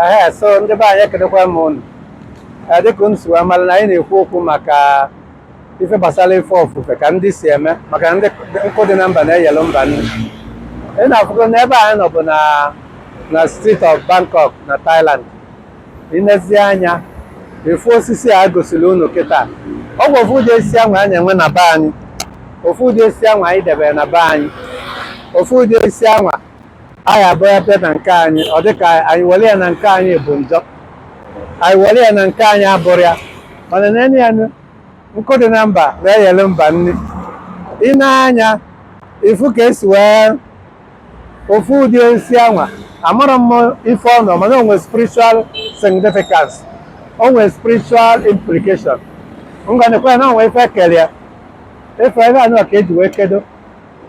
ee so ndị be anyị ekenekwa m unu dịka unu si wee mara na anyị na-ekwu okwu maka ife gbasara ife ofufe ka ndị si eme maka na nkụ dị na mba na-eyelu mba nni ị na-afụ na ebe anyị nọ bụ na street of Bangkok na Thailand i nezie anya ị fụ osisi a gosiri unu kịta ọ bụ ofu ụdị osisi anwa a na-enwe na be anyị ofu ụdị osisi anwa anyị debere na be anyị ofu ụdị osisi anwa anyị abịa bịa na nke anyị ọ dị ka anyị were ya na nke anyị bụ njọ anyị were ya na nke anyị abụrụ arụ mana nene ya nkụ dị na mba na-eyere mba nni i nee anya ị fụ ka e si wee ofu ụdị osisi anwa amarọ m ife ọ nọ mana o nwere spiritual significance o nwere spiritual implication ngwa nekwa na o nwere ife e kere ya ife anwa ka e ji wee kedo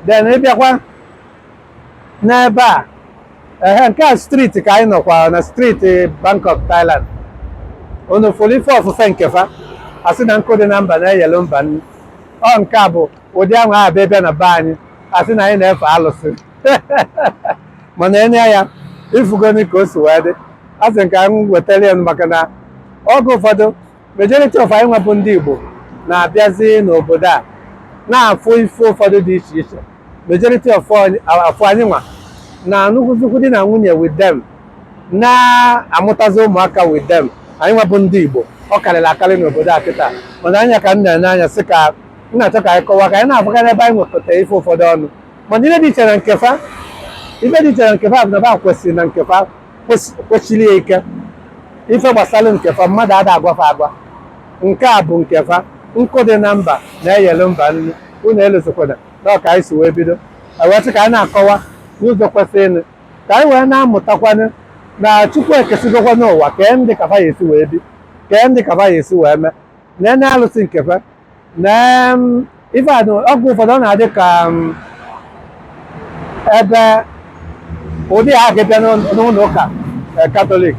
then ị bịakwa n'ebe a ehe nke a street ka anyị nọkwa na street Bangkok Thailand unu fụrụ ife ofufe nke fa a sị na nkụ dị na mba na-eyelu mba nri ọ nke a bụ ụdị anwa abịa bịa na be anyị a sị na anyị na-efe alụsị mana nene ya ị fụgonụ ka o si wee dị a sị m ka m wetara ya maka na oge ụfọdụ majority of anyị nwa bụ ndị Igbo na-abịazi n'obodo a na-afụ ife ụfọdụ dị iche iche majority of anyị nwa na-anụkọ di na nwunye with them na-amụtazi ụmụaka with them anyị nwa bụ ndị Igbo ọ karịrị akarị n'obodo a kịta mana anya ka m na-ene anya sị ka m na-achọ ka anyị kọwa ka anyị na-afụga n'ebe anyị nwekọta ife ụfọdụ ọnụ mana ife dị iche na nke fa ife dị iche na nke fa bụ na fa kwesiri na nke fa kwes- kwesiri ya ike ife gbasara nke fa mmadụ ada agwa fa agwa nke a bụ nke fa nkụ dị na mba na-eyelu mba nri unu elozọkwana na ọ ka anyị si wee bido wee sị ka anyị na-akọwa n'ụzọ kwesịrịnụ ka anyị wee na-amụtakwanụ na Chukwu ekesigokwanụ ụwa kee ndị ka fa ya-esi wee bi kee ndị ka fa ya-esi wee mee na na alụsị nke fa na em, ife a na oge ụfọdụ ọ na-adị ka em, ebe ụdị a ga-abịa n'ụlọ- n'ụlọ ụka eh, Katọlik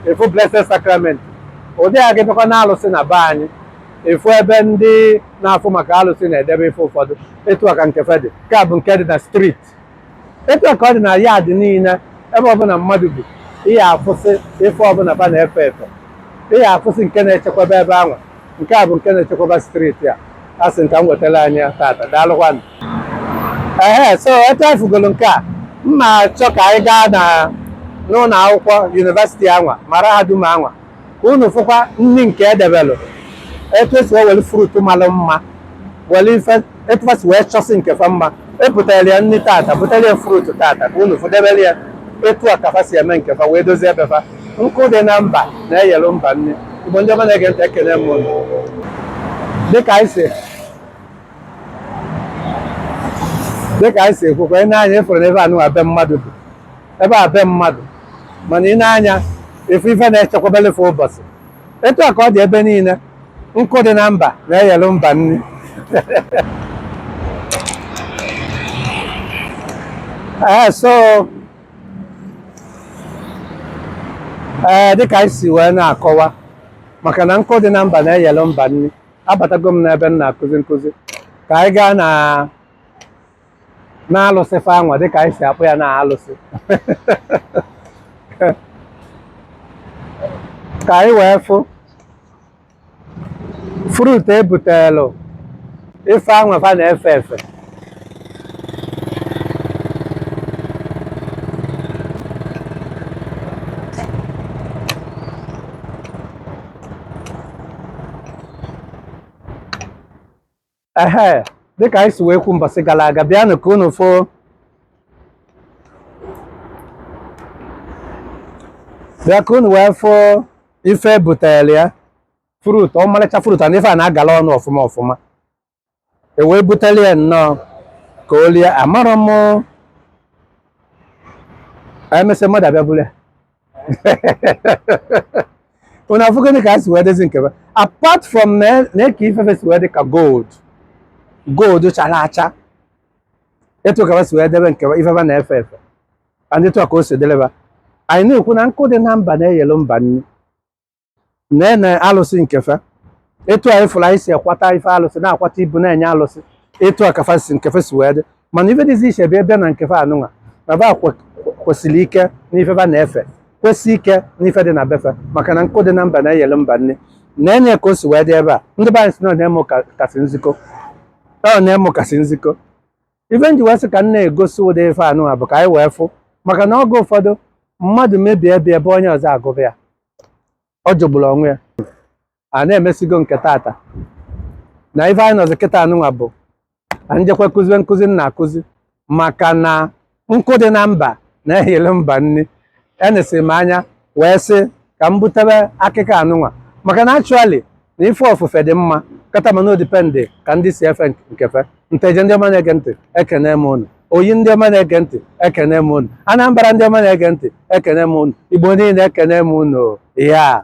ị fụ blessed sacrament ụdị a ga-abịakwa na alụsị na be anyị ị fụ ebe ndị na-afụ maka alụsị na-edebe ife ụfọdụ etu a ka nke fa dị nke a bụ nke dị na street etu a ka ọ dị na yard niile ebe ọbụla mmadụ bi ị ya-afụsị ife ọbụla fa na-efe efe ị ya-afụsị nke na-echekwaba ebe anwa nke a bụ nke na-echekwaba street a a sị m ka m wetara anyị ya tata daalụkwanụ ehe so etu anyị fụgoro nke a m na-achọ ka anyị gaa na n'ụlọ akwụkwọ university anwa mara ha dum anwa ka unu fụkwa nri nke edebelụ etu esi wee were fruit malụ mma were ife etu fa si wee chọsị nke fa mma ebutere ya nri tata butere ya fruit tata ka unu fụ debere ya etu a ka fa si eme nke fa wee dozie ebe fa nkụ dị na mba na-eyelụ mba nri igbo ndị ọma na-ege ntị ekele m unu dịka anyị si dịka anyị si ekwukwa i nee anya ị fụrụ n'ebe anụwa be mmadụ bụ ebe a be mmadụ mana i nee anya ị fụ ife na-echekwabelụ fa ụbọsị etu a ka ọ dị ebe niile nkụ dị na mba na-eyelụ mba nri ee so ee dịka anyị si wee na-akọwa maka na nkụ dị na mba na-eyelụ mba nri abatago m n'ebe m na-akụzi nkụzi ka anyị gaa na n'alụsị fa anwa dịka anyị si akpọ ya na alụsị ka anyị wee fụ fruit ebutelu ife anwa fa na-efe efe ehe dịka anyị si wee kwu mbọsị gara aga bịanụ ka unu fụ bịa ka unu wee fụ ife e butere ya fruit ọmarịcha fruit and ife a na-agala ọnụ ọfụma ọfụma e wee butere ya nnọọ ka o lie amarọ m emesịa mmadụ abịa buru ya unu afụgịnị ka a si wee dezi nke ba apart from na ka ife ba si wee dị ka gold gold chara acha etu a ka ba si wee debe nke ife ba na-efe efe and etu a ka o si dịlị ba anyị na-ekwu na nkụ dị na mba na-eyelu mba nri na-ene alụsị nke fa etu a ị fụrụ anyị si akwata ife alụsị na-akwata ibu na-enye alụsị etu a ka fa si nke fa si wee dị mana ife dịzi iche bụ ebe na nke fa anụnwa na ba kwe- kwesiri ike n'ife ba na-efe kwesi ike n'ife dị na be fa maka na nkụ dị na mba na-eyelu mba nri na-enye ka o si wee dị ebe a ndị be anyị si na ọ na-eme ụka kasị nzikọ ọ na-eme ụka si nzikọ ife m ji wee sị ka m na-egosi ụdị ife anụnwa bụ ka anyị wee fụ maka na oge ụfọdụ mmadụ mebie ebe ebe onye ọzọ agụba ya ọ jọgburu onwe ya a na-emesigo nke tata na ife anyị nọzi kịta anụnwa bụ ka m jekwa kụziwe nkụzi m na-akụzi maka na nkụ dị na mba na-eyelu mba nri enesiri m anya wee sị ka m butebe akịkọ anụnwa maka na actually na ife ofufe dị mma kata mana ọ depend ka ndị si efe nke fa nteje ndị ọma na-ege ntị ekene m unu oyi ndị ọma na-ege ntị ekene m unu anambra ndị ọma na-ege ntị ekene m unu igbo niile ekene m unu ya